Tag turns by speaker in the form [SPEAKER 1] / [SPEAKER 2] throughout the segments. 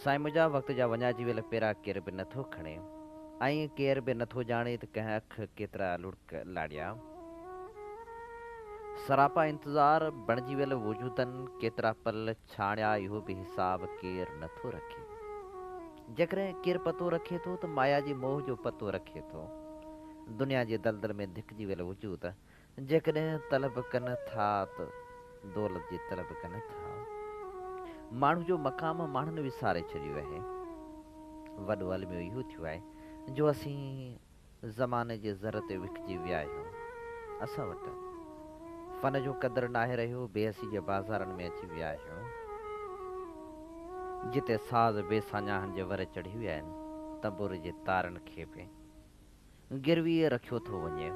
[SPEAKER 1] سائين منهنجا وقت جا وڃائجي ويل پيرا ڪير به نه ٿو کڻي ۽ ڪير به نه ٿو ڄاڻي ته ڪنهن اک ڪيترا لڙڪ لاڙيا. سراپا انتظار بڻجي ويل وجودن ڪيترا پل ڇاڻيا اهو به حساب ڪير نه ٿو رکي. جيڪڏهن ڪير پتو رکي ٿو ته مايا جي موهه جو پتو رکي ٿو. دنيا جي دلدل ۾ ڌڪجي ويل وجود جيڪڏهن طلب ڪن ٿا ته دولت جي طلب ڪن ٿا. ماڻهو جو مقام ماڻهن وساري ڇڏيو اهي. وڏو الميو اهو ٿيو آهي جو اسين زماني جي زر تي وڪجي ويا اهيون. اسان وٽ فن جو قدر ناهي رهيو، بي حسي جي بازارن ۾ اچي ويا اهيون. جتي ساز بي ساڃاهن جي ور چڙهي ويا آهن، تنبور جي تارن کي به. گرويء رکيو ٿو وڃي.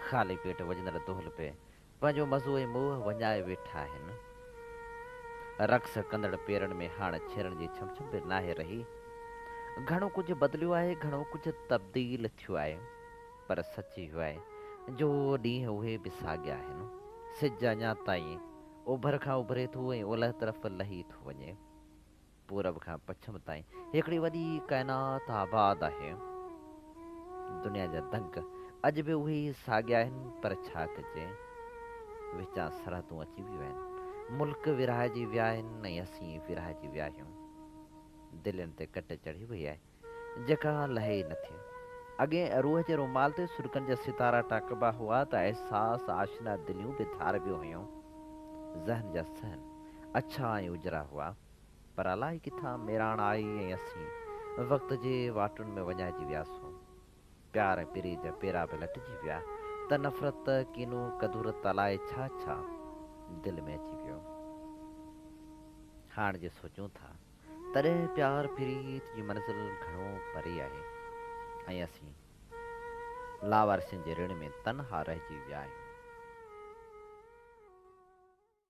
[SPEAKER 1] خالي پيٽ وڄندڙ دهل پئي پنهنجو مزو ۽ موهه وڃائي ويٺا آهن. رقص ڪندڙ پيرن ۾ هاڻ ڇيرن جي ڇم ڇم به ناهي رهي. گهڻو ڪجهه بدليو آهي، گهڻو ڪجهه تبديل ٿيو آهي، پر سچ اهو آهي جو ڏينهن اهي به ساڳيا آهن. سج اڃا تائين اوڀر کان اڀري ٿو ۽ اولهه طرف لهي ٿو وڃي. پورب کان پڇم تائين هڪڙي وڏي ڪائنات آباد آهي. دنيا جا دنگ اڄ به اهي ئي ساڳيا آهن پر ڇا ڪجي وچان سرحدون اچي ويون آهن. ملڪ ورهائجي ويا آهن ۽ اسين ورهائجي ويا آهيون. دلين تي ڪٽ چڙهي وئي آهي جيڪا لهي ئي نٿي. اڳي روح جي رومال تي سڏڪن جا ستارا ٽاڪبا هئا ته احساس آشنا دليون به ڌاربيون هيون. ذهن جا صحن اڇا ۽ اجرا هئا. پر الائي ڪٿان ميراڻ آئي ۽ اسين وقت جي واٽن ۾ وڃائجي وياسون. پيار ۽ پري جا پيرا به لٽجي ويا ته نفرت، ڪينو، ڪدورت الائي ڇا ڇا دل ۾ اچي ويو. هاڻ جي سوچون ٿا تڏهن پيار پريت جي منزل گهڻو پري آهي ۽ اسين لاوارثين جي رڻ ۾ تنها رهجي ويا آهيون.